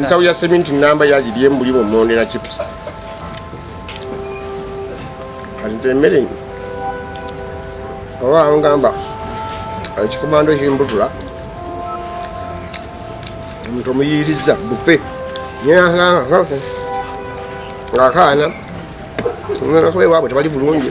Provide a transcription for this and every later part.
nsawo ya seminti namba yagirye mbuli mu mondera chips kati nze emmere oba angamba ekikomando kimbutula omuntu omuyiriza bufe ngakaana ngakuba ewaabwe tebali bulungi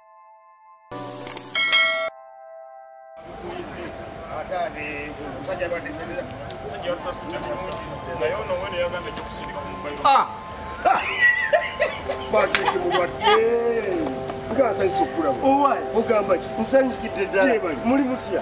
Ah! Patrick Muwadde. Nga asanyusa okulaba. Ogamba ki? Nsanyukidde ddala. Muli mutya?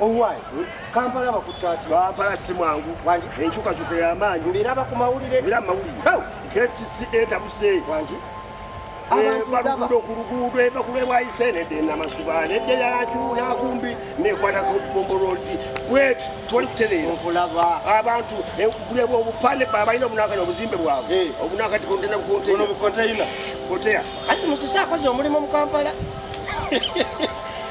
Owaayi, hmm? Kampala abakutte ati? Kampala si mwangu. Wangi? Enkyukakyuka ya maanyi. Mbiraba ku mawulire? Mbiraba mu mawulire. Hau! Kekisi etabuse. Wangi? Abantu ku luguudo eva ku lwebwayise nedda enamasuba nedda yalakyunakumbi nekwatako bombo lodi bwet twali kutereera okulaba abantu kuleba obupande balina obunakati obuzimbe bwabwe eh. obunakati kontena bukonteina koteya kati musisi akoze omulimu mu kampala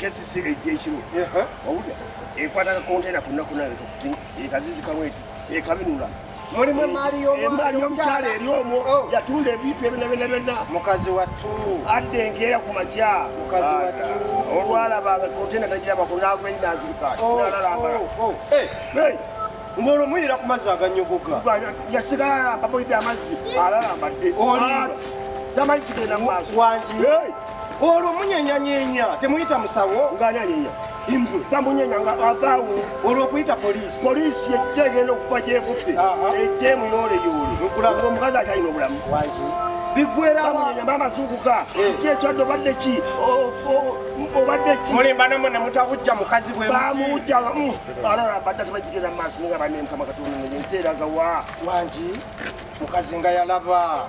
kesisi ejja ekimu owulira ekwata kakontena ku nnaku nayo tokuti ekazizi kamweti ekabinula mulimu emaali y'emaali y'omukyala eri omwo oh. yatunda ebintu ebina bina bina mukazi wattu adde enkeera ku makya mukazi wattu olwalaba nga kontena tagira bako naagwa ennanzirikaati oh, nalalambala oh, eh. ng'olwo muyira ku mazzi aganyogoga yasigala alambaboidde amazzi alalambadde tamanyi kigenda mu maaso olwo munyenyanyenya temuyita musawo ngananyenya imbwe bamunyenya nga avaawo olwokuyita poliisi poliisi yejja egenda okuva gyekutte ejja emuyooleyole nkulanga omukazi akyalina obulamu wangi bigweramunyenya maama zuukuka eh. kiki ekyadde obadde ki obadde ki mulimba namwe nemutabujja mukazi bwe bamujja mm. alora mbadde tebagigenda mu maaso ninga banemukama katonda nensi eragawa wangi mukazi nga yalaba